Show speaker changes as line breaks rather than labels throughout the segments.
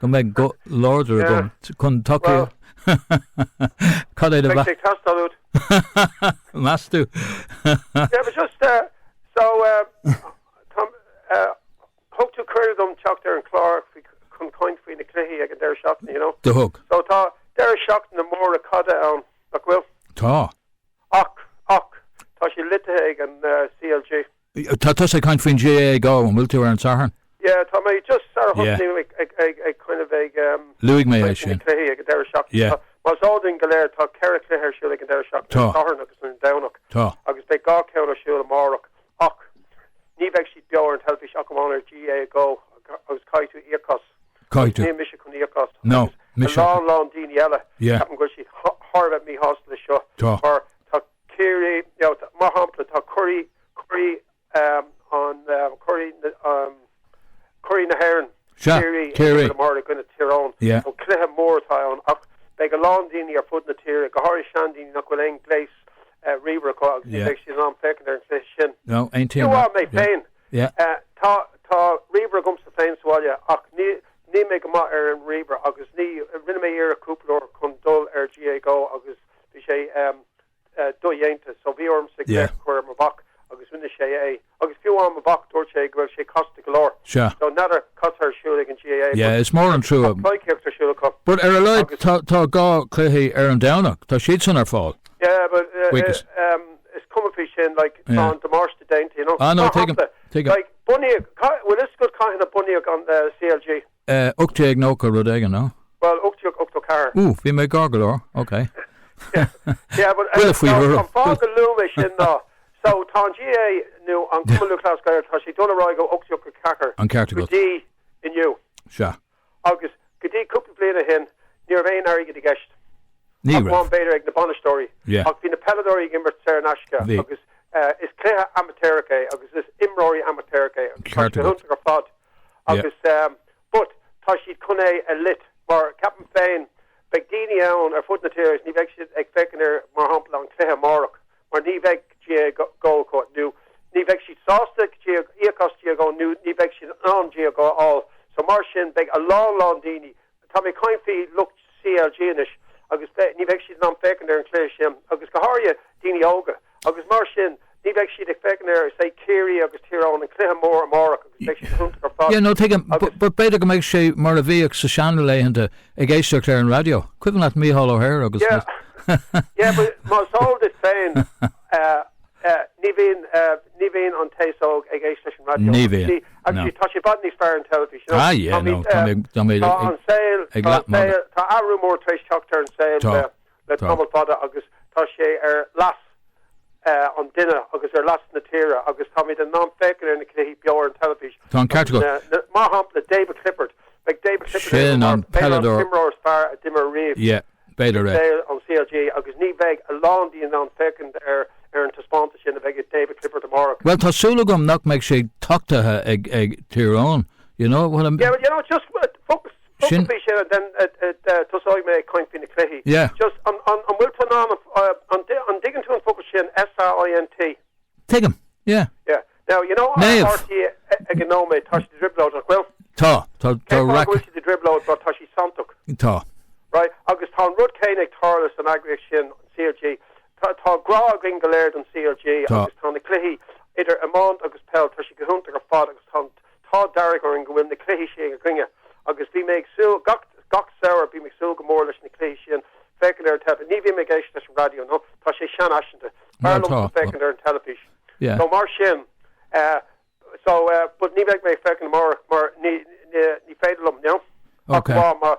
Go mbeidh go láidir agam chun tacú. Cad é do mheas? Beidh sé ag teastáil
uait. Meas tú? Yeah, but just, uh, so, uh, uh, thug tú cuireadh dom teacht ar an chlár faoi, chun caint faoi na cluichí ag an deireadh seachtaine, you know? Do thug. So
tá
deireadh seachtaine móra caide ann, nach bhfuil? Tá.
Ach,
ach, tá sé loitithe ag an, uh, CLG. Tá tusa
ag caint faoin GAAGo, an bhfuil tú ar an Satharn? Yeah, tá mé
just sara thosnaíú ag, ag, ag kind of ag ehm, Luaigh mé é sin.
cluichí ag an deireadh seachtaine. Yeah.
Tá, más eol dúinn
go léir,
tá ceithre chluiche ar siúl ag an deireadh seachtaine, Tá. an Satharn agus an
Domhnach.
Tá. Agus beidh dhá
cheann
ar siúl amárach, ach ní bheidh siad beo ar an teilifís ach amháin ar GAAGo, agus caithfidh tú íoc as. Caithfidh tú. Níl mise
chun íoc as.
Ná mise. A
lán, lán daoine eile,
Yeah. ceapaim go bhfuil siad
thar
a bheith míshásta leis seo. Tá. Mar tá, Ciarraí, mar shampla, tá curaidh na hÉireann, Ciarraí, ag imirt
amárach i gcoinne Thír
Eoghain. Cluiche mór
atá
ann ach beidh a lán daoine ar fud na tíre, go háirithe seandaoine nach bhfuil aon ghléas ríomhaire acu agus ní bheidh siad in ann
féachaint ar
an chluiche sin. Aontaím leat.
Mé féin,
tá ríomhaire agamsa féin sa bhaile ach níl mé go maith ar an ríomhaire agus ní, rinne mé iarracht cúpla uair chun dul ar GAAGo agus Bhí sé dodhéanta so bhí ormsa glaoch a chur ar mo mhac agus rinne sé é agus fiú amháin mo mhac dúirt sé go raibh sé casta go leor so n'fheadar cad tá ar siúl ag an GAA yeah is mór an trua.
But ar a laghad tá dhá chluiche ar an Domhnach, tá siadsan ar fáil. Yeah
but is cuma faoi sin like tá an damáiste déanta you know, ah no, tuigim,
like bunaíodh,
bhfuil fhios agat cathain a bunaíodh an CLG? Eh, ocht déag nócha
rud éigin, no? Bhuel, ocht déag
ochtó ceathair. Ooh, bhí mé gar go
leor,
ok. Yeah, but, Buille faoi thuairim. An
fáth go luaim é sin
ná, so, tá an GAA, nó an Cumann Lúthchleas Gael, tá sé ag dul ar aghaidh ó ocht déag ochtó ceathair. An ceart agat. Go dtí inniu.
Sea. Agus
go dtí cúpla bliain ó shin, ní raibh aon airgead i gceist. Ní raibh. Ach amháin b'fhéidir ag na bainisteoirí. Yeah. Ach bhí na peileadóirí
ag
imirt saor in aisce. Bhí. Agus eh, is cluiche amaitéarach é, agus is imreoirí amaitéaracha é. Ceart agat. Tá sé iontach ar fad. agus ehm, but tá siad chun é a loit, mar ceapaim féin, beidh daoine ann ar fud na tíre is ní bheidh siad ag féachaint ar, mar shampla, an cluiche amárach, mar ní bheidh GAAGo acu, nó ní bheidh siad sásta íoc as GAAGo, nó ní bheidh siad in ann GAAGo a fháil. So mar sin, beidh a lán lán daoine Tá mé ag caint faoi lucht CLG anois agus ní bheidh siad in ann féachaint ar an chluiche sin agus go háirithe daoine óga agus mar sin ní bheidh siad ag féachaint ar is é Ciarraí agus Tír Eoghain an cluiche mór amárach agus beidh siad iontach ar fad. Yeah, no, tuigim.
But b'fhéidir go mbeidh sé mar a bhíodh sa seanlaethanta ag éisteacht ar an raidió, cuimhin leat Mícheál O'Hare agus na.
Yeah but más eol duit féin. Ní bhíonn, ní bhíonn an t-aos óg ag éisteacht leis an raidió. Ní bhíonn, no.
Tá sé i bhfad
níos fearr an teilifís, you know. Ah, yeah, no, tá mé,
tá mé ag, tá an saol, tá
an saol, tá athrú mór tar éis teacht ar an saol le, le tamall fada agus tá sé ar leas an duine agus ar leas na tíre agus táimid in ann féachaint ar na cluichí beo ar an teilifís. Tá an ceart agat. Na,
mar shampla,
David Clifford. Beidh David Clifford ar an, beidh an
t-imreoir is fearr a d'imir
ariamh. Yeah. b'fhéidir
i saol an
CLG agus ní bheidh a lán dínn in ann féachaint ar an taispeántas sin a bheidh ag David Clifford tomorrow. Bhuel, tá súil agam nach
mbeidh sé tachtaithe ag Tír Eoghain, you know what I mean. Yeah, well, you know, just
focal, focal faoi sin and then uh, uh, uh, tosóidh mé ag caint faoi na cluichí. Yeah. Just,
an bhfuil
tú in ann, an dtuigeann tú an focal sin, S-A-I-N-T?
Tuigim, yeah. Yeah. Now, you
know, RTÉ ag an nóiméad, tá siad i dtrioblóid, nach bhfuil? Tá, tá, tá,
Tá siad i dtrioblóid
but tá siad santach. Tá.
Right, agus
tá an rud céanna ag tarlú san eagraíocht sin, an CLG. Tá, tá grá againn go léir don CLG. Tá. Agus tá na cluichí idir iomáint agus peil, tá siad go hiontach ar fad agus tá an, Tá an t-ádh dearg orainn go bhfuil na cluichí sin againne agus bhí mé ag súil, gach samhradh bím ag súil go mór leis na cluichí sin féachaint ar an teilifís, ní bhím ag éisteacht leis an raidió nó tá sé seanfhaiseanta, b'fhearr liomsa féachaint ar an teilifís so mar sin so but ní bheidh mé ag féachaint amárach mar ní féidir liom, you know, ach lá mar.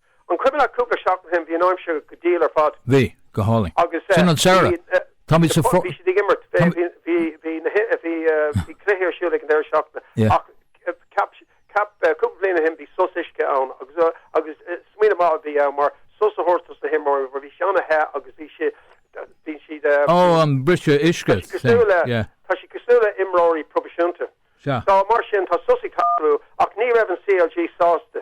An cuimhin leat cúpla seachtain ó shin, bhí an aimsir go diail ar fad. Bhí, go
hálainn. Agus Sin an
samhradh.
bhí, Táimid ag súil, bhí siad ag imirt, bhí, táimid.
bhí, bhí, bhí na hi, bhí eh, bhí cluichí ar siúl ag an deireadh seachtaine. Yeah. Ach eh,
ceap, si-
ceap eh, cúpla bliain ó shin bhí sos uisce ann agus eh, agus eh, smaoineamh maith a bhí ann mar sos a thabhairt dos na himreoirí mar bhí sé ana the agus bhí si, bhí siad eh, Ó, an
briseadh uisce. Tá, sea. cosúil le- Yeah. tá siad cosúil le
imreoirí proifisiúnta. So mar
sin tá sos
ag tarlú ach ní raibh an CLG sásta.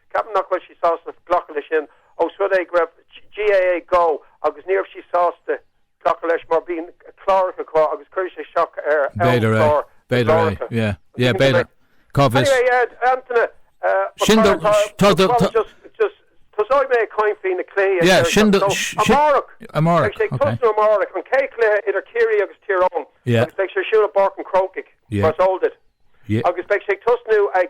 Ceapaim nach bhfuil siad sásta glacadh leis sin ós rud é go raibh GAA Go agus ní raibh siad sásta glacadh leis mar bíonn cláracha acu agus cuirfidh sé isteach ar amchlár
na gcláracha.
Tosóidh mé ag caint faoi na cluichí
amárach. Beidh sé ag
tosnú amárach, an chéad chluiche idir Ciarraí agus Tír Eoghain agus beidh sé ar siúl
i bPáirc an
Chrócaigh, mar is eol duit, agus beidh sé ag
tosnú
ag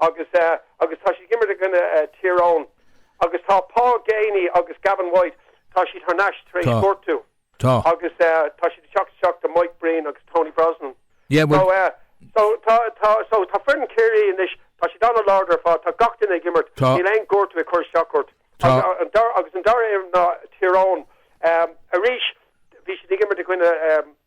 Agus, agus tá siad ag imirt i gcoinne Thír Eoghain. Agus tá Paul Geaney agus Gavin White, tá siad thar n-ais tar éis gortú. Agus tá siad ag teacht isteach do Mike Breen agus Tony Brosnan. So, so tá, tá, so tá foireann Chiarraí anois, tá siad an-láidir ar fad, tá gach duine ag imirt, níl aon gortú ag cur isteach orthu. Agus an dara foireann ná Tír Eoghain. Arís, bhí siad ag imirt i gcoinne.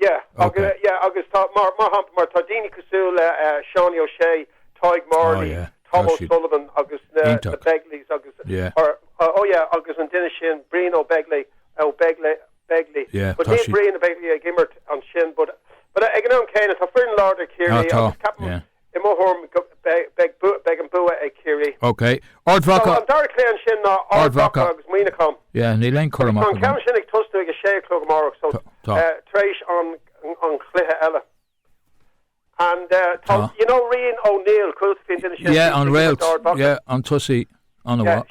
Yeah, agus tá, mar shampla, tá daoine cosúil le Seánie O'Shea, Tadhg Morley, Tom O'Sullivan agus na Begleys agus, oh yeah, agus an duine sin, Brian Ó Beaglaoich, Begley, but níl Brian Begley ag imirt ansin, but ag an am céanna, tá foireann láidir Ciarraí agus ceapaim, I mo thuairim, beidh an bua ag Ciarraí. OK. Ard
Mhacha. So an dara cluiche ansin ná
Ard
Mhacha
agus Muineachán. Yeah,
níl
aon cur amach agam. Tá an ceann sin ag tosnú
ag a
sé a chlog amárach, so tar éis an chluiche eile. And, uh, tá, you know, Rian O'Neill, cúil sa fin sin. Yeah, an
réalt. Yeah, an tosaí.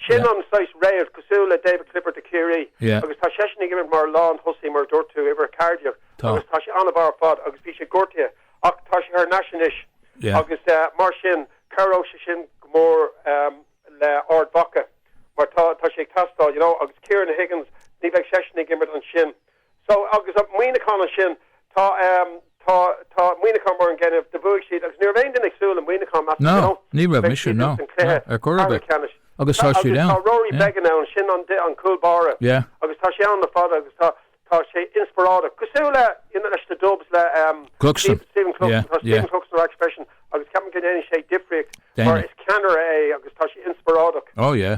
Sin an saghas
réalt, cosúil le David Clifford de Ciarraí, agus tá seisean
ag imirt
mar lán thosaí, mar a dúirt tú, uimhir 14, agus tá sé an-mhaith ar fad agus bhí sé gortaithe ach tá sé thar n-ais anois
agus mar
sin cabhróidh sé sin go mór le Ard Mhacha mar tá sé ag teastáil, you know, agus Ciarán Higgins, ní bheidh seisean ag imirt ansin So, agus Muineachán ansin, tá, tá, tá Muineachán mar an gcéanna do bhuaigh siad agus ní raibh aon duine ag súil le Muineachán as, you know, No, ní raibh beidh
mise, siad no, ins an no, cluiche ar chor ar ceathrú bith. ceannais. Agus tá siad Agus tá ann, Rory yeah, Beggan
ansin, an cúl báire, yeah. agus tá sé ann le fada agus tá, tá sé inspioráideach, cosúil le, you know, leis na Dubs, le, um, Cluxton, Steve, Stephen Cluxton, yeah, tá Stephen yeah. Cluxton ar ais freisin agus ceapaim go ndéanfaidh sé difríocht, mar Déanfaidh. is ceannaire é agus tá sé inspioráideach. Oh yeah.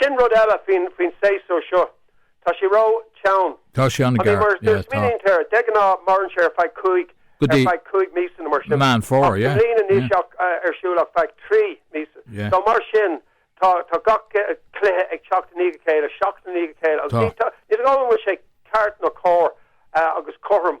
Sin rud eile faoin séasúr seo, tá sé ró teann. Tá sé an-ghearr, yeah, tá.
I mean, má smaoiníonn tú air,
de ghnáth maireann sé ar feadh cúig, ar feadh cúig míosa nó mar sin. Meán Fómhair, yeah. I
mbliana
níl sé ar siúl ach feadh trí míosa. Yeah. So mar sin, tá tá gach cluiche ag teacht i ndiaidh a chéile, seachtain i ndiaidh a chéile. Tá. Ní dóigh go bhfuil sé ceart nó cóir agus cothrom.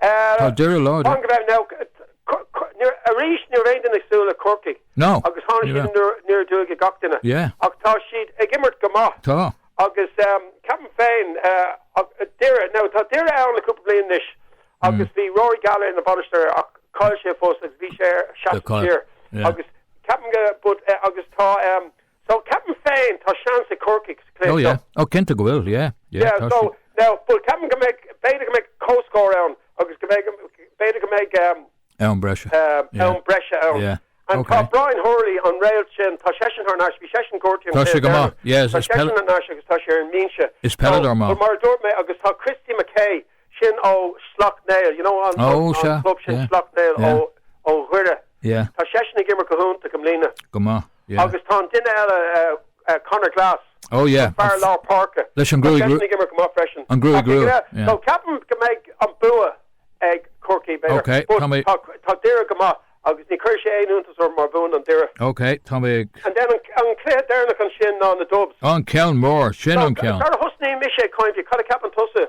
Tá Doire
láidir. Arís ní raibh aon duine ag súil le Corcaigh agus tháinig siad
aniar
aduaidh ar gach duine ach tá siad ag imirt go maith. Tá. Agus ceapaim féin Doire, now tá Doire ann le cúpla bliain anois agus bhí Rory Gallagher ina bhainisteoir ach chaill sé a phost agus bhí sé air seasamh siar agus ceapaim go, but, agus tá, So, ceapaim féin, tá seans ag Corcaigh sa chluiche Oh, seo. yeah. Oh, cinnte
go bhfuil, yeah, yeah, Yeah, tá so, siad.
now, but ceapaim go mbeidh, b'fhéidir go mbeidh comhscór ann agus go mbeidh, b'fhéidir go mbeidh, um, Am breise.
um, Yeah. am breise ann.
Yeah. And Ok. tá Brian Hurley, an réalt sin, tá seisean thar n-ais, bhí seisean gortaithe. Tá sé go maith. Yeah, is-
Tá is peil- seisean thar
n-ais agus tá sé ar an mbinse. Is peileadóir maith. So, mar
a dúirt mé, agus tá
Chrissy McKaigue, Sin ó Sleacht Néill, you know an an club sin Sleacht Néill ó ó Dhoire. Tá seisean ag imirt go hiontach i mbliana. Go maith, yeah. Agus
tá an duine
eile eh Conor Glass, Oh yeah. an fear lár páirce. Leis an gruaig rua. Tá seisean ag imirt
go maith freisin. An gruaig rua,
yeah. So ceapaim go mbeidh an bua ag Corcaigh but. Ok, tá mé. Tá tá Doire go maith agus ní chuirfidh sé aon iontas orm má bhuann an Doire. Ok, tá mé ag. And
then an an cluiche
deireanach ansin ná na Dubs. An ceann mór,
sin an ceann. Sar a thosnaigh mise ag
caint faoi, cad a ceapann tusa?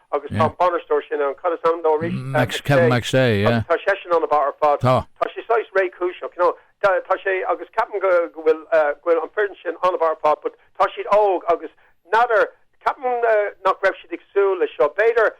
agus tá an bainisteoir sin ann, cad is ainm dó arís? Kevin
McStay, yeah. Tá seisean an-mhaith
ar fad. Tá. Tá sé saghas réchúiseach, you know, tá sé, agus ceapaim go bhfuil, eh, go bhfuil an foireann sin an-mhaith ar fad, but tá siad óg agus n'fheadar, ceapaim nach raibh siad ag súil leis seo. B'fhéidir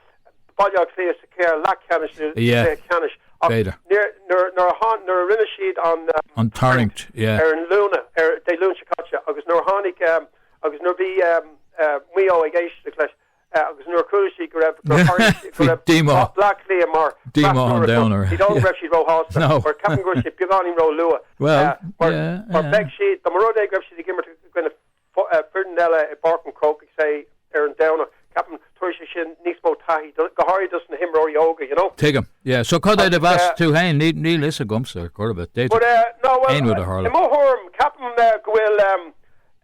Baile Átha Cliath sa chluiche leathcheannais nó sa chluiche ceannais, ach níor,
nuair, nuair a
tháin, nuair a rinne siad an, eh, an tarraingt,
yeah, ar an Luan,
ar, Dé Luain seo caite, agus nuair a tháinig, eh, agus nuair a bhí, eh, eh, Maigh Eo ag éisteacht leis, agus nuair a chuala siad go raibh gur tharla sé, go raibh díomá
Bhleá Cliath
mar díomá an domhain
orthu. Ní dóigh go raibh siad
róshásta, mar ceapaim go bhfuil sé beagáinín róluath. Well, mar beidh siad, dá mba rud é go raibh siad ag imirt i gcoinne foireann eile i bPáirc an Chrócaigh, say ar an Domhnach, ceapaim tabharfadh sé sin níos mó taithí, go háirithe dos na himreoirí óga, you know? Tuigim, yeah, so cad
é do mheas tú féin, níl a fhios agamsa gurb it, déid. But, uh, no, well,
Aon rud a tharla. I mo thuairim, ceapaim go bhfuil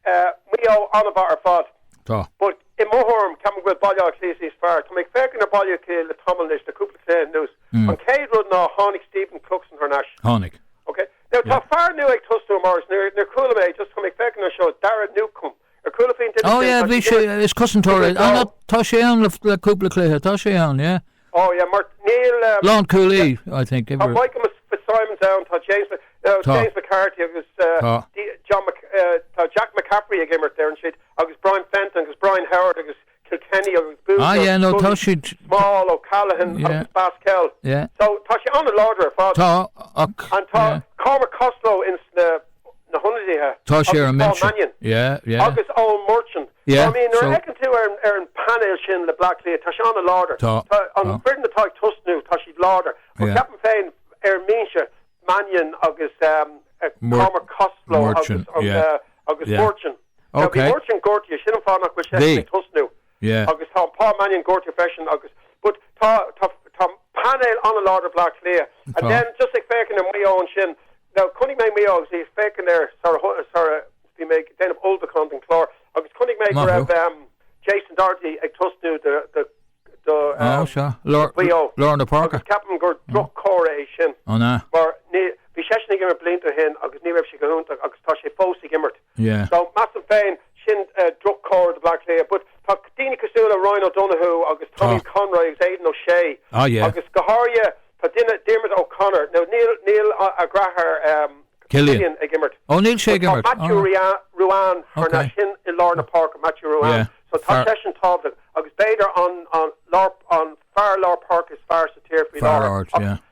Maigh Eo an-mhaith ar fad. Tá. But I mo thuairim, ceapaim go bhfuil Baile Átha Cliath níos fearr. Tá mé ag féachaint ar Bhaile Átha Cliath le tamall anois, le cúpla cluiche anuas. An chéad rud ná, tháinig Stephen Cluxton thar n-ais. Tháinig. Ok.
Now, tá
fear nua ag tosnú amárach. Níor chuala mé é, just tá mé ag féachaint anseo, Daire Newcombe. Ar chuala faoin duine sin? Oh
yeah, bhí sé, is cosantóir é. Tá sé ann le cúpla cluiche, tá sé ann, yeah. Oh yeah
mar níl eh. Lánchúlaí yeah
I think Tá Michael Mc
Fitzsimons ann tá James Mc no Tá James McCarthy agus eh, Tá D- John Mc eh, tá Jack McCaffrey ag imirt ar an siad agus Brian Fenton agus Brian Howard agus Kilkenny agus Bugler agus yeah no tá Scully
siad Small
O'Callaghan yeah agus Basquel yeah so tá sé
an-láidir
ar fad tá ach an tá yeah Cormac Costello ins na
na hionadaithe agus Paul Mannion agus
Eoin Murchan. I mean, nuair a
fheiceann
tú ar an bpainéal sin le Bleá Cliath, tá sé an-láidir. Tá an foireann atá ag tosnú, tá sé láidir. Ach ceapaim féin, ar an mbinse, Mannion agus Cormac Costello agus Murchan. Bhí
Murchan gortaithe, sin an
fáth nach bhfuil sé ag tosnú. agus
tá Paul
Mannion gortaithe freisin agus but tá tá tá painéal an-láidir ag Bleá Cliath and then just ag féachaint ar Maigh Eo ansin now chonaic mé Maigh Eo agus ag féachaint air sara sara bhí mé ag déanamh ullmhúchán don chlár agus chonaic mé go raibh ehm Jason Doherty ag tosnú do do do
ehm do Mhaigh Eo agus ceapaim gur
droch-chomhartha é sin mar
bhí
seisean ag imirt blianta ó shin agus ní raibh sé go hiontach agus tá sé fós ag imirt. Yeah. So,
measaim
féin, sin droch-chomhartha do Bhleá Cliath, but tá daoine cosúil le Ryan O'Donoghue agus Tommy Conroy agus Aidan O'Shea, agus go
háirithe,
tá duine, Diarmuid O'Connor, now níl, níl a dheartháir
Cillian ag imirt. Ó, níl
sé ag imirt.
Tá
Matthew Ruane thar n-ais, sin i lár na páirce, Matthew Ruane, so tá seisean
tábhachtach,
agus b'fhéidir an, an lár, an fear lár páirce is fearr sa tír faoi láthair. Fear ard, yeah.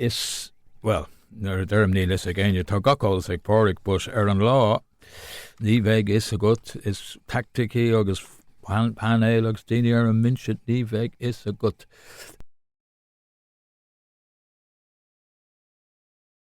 Níl fhios, bhuel, nuair a deirim níl fhios ag éinne, tá gach eolas ag Pádraig, but ar an lá, ní bheidh fhios agat, is tactics agus painéil agus daoine ar an mbinse, ní bheidh fhios agat.